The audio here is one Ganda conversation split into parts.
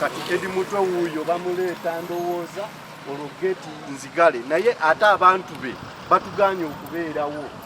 kati edi mutwe wuuyo bamuleeta ndowooza olwo geti nzigale naye ate abantu be batuganye okubeerawo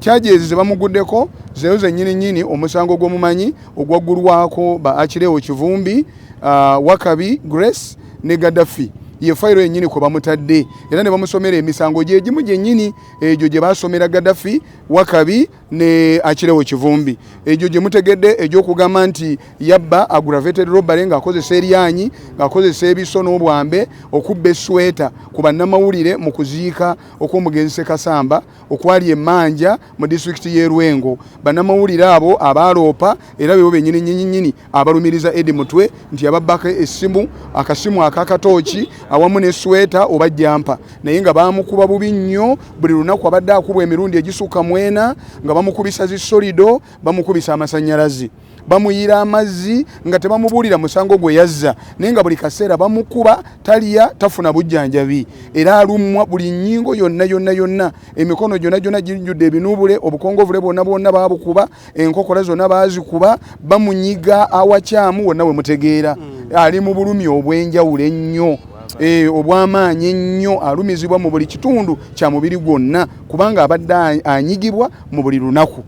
kyaji ezo zebamuguddeko zeyo zenyini nyini omusango gwomumanyi ogwaggulwako ba akirewo kivumbi uh, wakabi grace ne gaddafi ye fayiro yennyini kwe bamutadde era ne bamusomera emisango gyegimu gyennyini egyo gye basomera gaddafi wakabi ne akirewo kivumbi egyo gye mutegedde egy'okugamba nti yabba aggravated robbery ng'akozesa eryanyi ng'akozesa ebiso n'obwambe okubba esweta ku bannamawulire mu kuziika okw'omugenzi sekasamba okwali emanja mu disitulikiti y'e lwengo bannamawulire abo abaaloopa era bebo bennyini nyinyinyini abalumiriza Eddie Mutwe nti yababbako essimu, akasimu akakatooki awamu ne sweta oba jampa naye nga baamukuba bubi nnyo. Buli lunaku abadde akubwa emirundi egisukka mwena nga bamukubisa zi solido, bamukubisa amasannyalaze, bamuyiira amazzi nga tebamubuulira musango gwe yazza naye nga buli kaseera bamukuba, talya, tafuna bujjanjabi era alumwa buli nnyingo yonna yonna yonna, emikono gyonna gyonna gijjudde ebinuubule, obukongovule bwonna bwonna baabukuba. enkokola zonna baazikuba bamunyiga awakyamu wonna we mutegeera mm. ali mu bulumi obw'enjawulo ennyo Eh, obwamaanyi ennyo alumizibwa mu buli kitundu kya mubiri gwonna kubanga abadde anyigibwa mu buli lunaku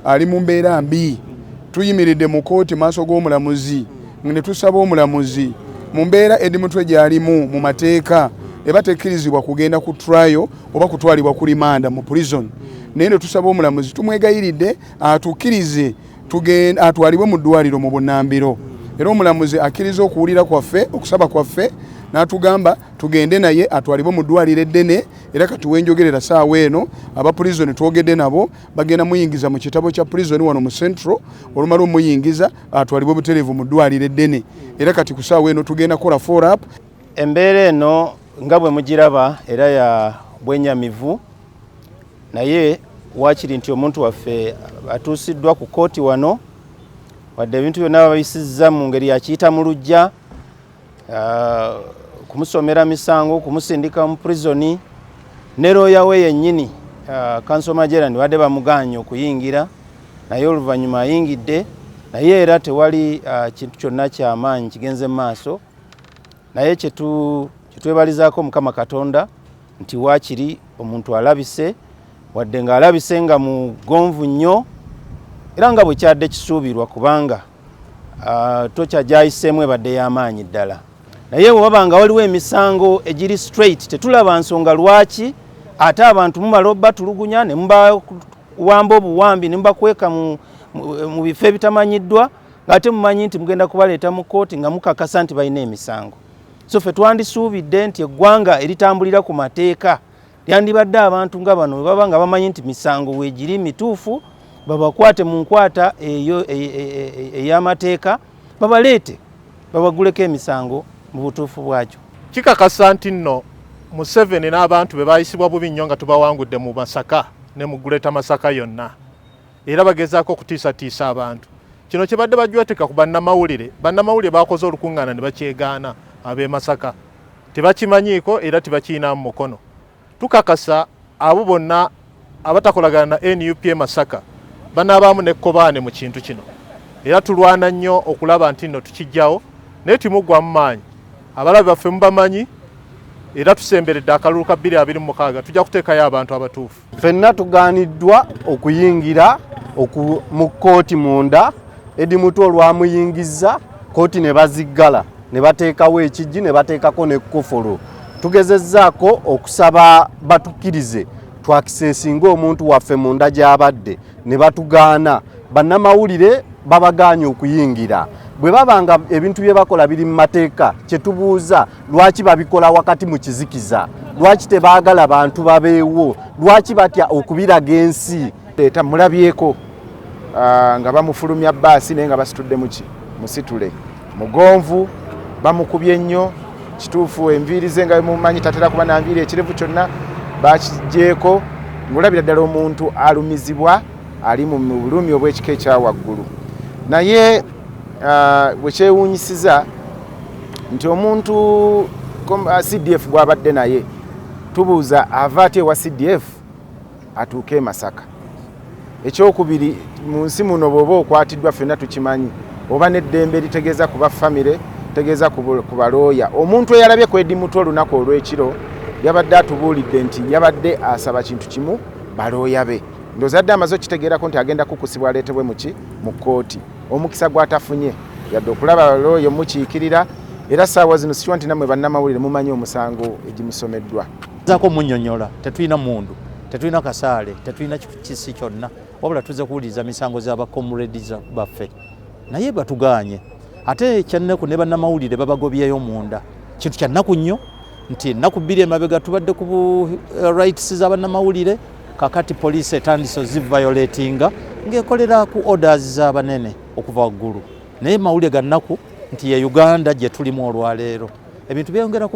ali mu mbeera mbi tuyimiridde mu kooti maaso g'omulamuzi ne tusaba omulamuzi mu mbeera edi mutwe gy'alimu mu mateeka eba tekkirizibwa kugenda ku trayo oba kutwalibwa ku limanda mu prison naye ne tusaba omulamuzi tumwegayiridde atukirize atwalibwe mu ddwaliro mu bunambiro era omulamuzi akkiriza okuwulira kwaffe okusaba kwaffe n'atugamba tugende naye atwalibwe mu ddwaliro eddene era kati wenjogerera saawa eno aba prison twogedde nabo bagenda muyingiza mu kitabo kya prison wano mu central olumala omuyingiza atwalibwe butereevu mu ddwaliro eddene era kati ku saawa eno tugenda kola forup Embeera eno nga bwe mugiraba era ya bwenyamivu naye waakiri nti omuntu waffe atuusiddwa ku kkooti wano wadde ebintu byonna babisizza mu ngeri yakiyita mu lujja ah, kumusomera misango kumusindika mu prisoni ne looya we yennyini ah, kanso majerani badde bamugaanye okuyingira naye oluvannyuma ayingidde naye era tewali ah, kintu kyonna kyamaanyi kigenze mu maaso naye kyetwebalizaako mukama katonda nti waakiri omuntu alabise wadde ng'alabise nga mugonvu nnyo era nga bwe kyadde kisuubirwa kubanga ah, tokya gyayiseemu ebadde y'amaanyi ddala naye bwe baba nga waliwo emisango egiri straight tetulaba nsonga lwaki ate abantu mumala obatulugunya ne mubawamba obuwambi ne mubakweka mu bifo ebitamanyiddwa ng'ate mumanyi nti mugenda kubaleeta mu kkooti nga mukakasa nti balina emisango so ffe twandisuubidde nti eggwanga eritambulira ku mateeka lyandibadde abantu nga bano bwe baba nga bamanyi nti misango weegiri mituufu babakwate mu nkwata eyo e, e, e, ey'amateeka babaleete babaguleko emisango mu butuufu bwakyo kikakasa nti nno museveni n'abantu be bayisibwa bubi nnyo nga tubawangudde mu masaka ne mu guleta masaka yonna era bagezaako okutiisatiisa abantu kino kyebadde bajweteka ku bannamawulire bannamawulire bakoze olukuŋŋaana ne bakyegaana ab'e masaka tebakimanyiiko era tebakiyinamu mukono tukakasa abo bonna abatakolagana na nup e masaka banaabaamu nekkobaane mu kintu kino era tulwana nnyo okulaba nti nno tukijjawo naye timuggwamu maanyi abalabe baffe mubamanyi era tusemberedde akalulu ka 226 tujja kuteekayo abantu abatuufu Fenna tugaaniddwa okuyingira mu kkooti munda Edi Mutu olwamuyingizza kkooti ne baziggala ne bateekawo ekijji ne bateekako n'ekkufulu. Tugezezzaako okusaba batukkirize twakisesinga omuntu waffe munda gy'abadde ne batugaana. Bannamawulire babagaanye okuyingira. Bwe baba nga ebintu bye bakola biri mu mateeka kye tubuuza lwaki babikola wakati mu kizikiza lwaki tebaagala bantu babeewo lwaki batya okubiraga ensi leeta mulabyeko ah, nga bamufulumya baasi naye nga basitudde muki musitule mugonvu bamukubye nnyo kituufu enviiri ze nga mumanyi tatera kuba nanviiri ekirevu kyonna bakigyeko ngaolabira ddala omuntu alumizibwa ali mu bulumi obw'ekika ekyawaggulu naye Ah, wekyewunyisiza nti omuntu ah, cdf gwabadde naye tubuuza ava ati ewa cdf atuuke emasaka ekyokubiri mu nsi muno bweoba okwatiddwa fenna tukimanyi oba neddembe litegeeza kuba famire tegeeza ku balooya omuntu eyalabye kwedimutu olunaku olwekiro yabadde atubuulidde nti yabadde asaba kintu kimu balooya be ndozadde amaze okitegeerako nti agenda kukusibwa aleetebwe muki mu kkooti omukisa gwatafunye yadde okulaba looya omukiikirira era saawa zino sikiwa nti namwe bannamawulire mumanyi omusango egimusomeddwa zako munyonyola tetulina mundu tetulina kasaale tetulina kisi kyonna wabula tuze kuwuliriza misango zabakomreds baffe naye batuganye ate ekyannaku ne bannamawulire babagobyeyo munda kintu kyannaku nnyo nti ennaku bbiri emabega tubadde ku eh, rights za bannamawulire kakati poliisi etandise ozivayolatinga ng'ekolera ku orders z'abanene okuva waggulu naye mawulire gannaku nti ye uganda gye tulimu olwaleero ebintu byeyongera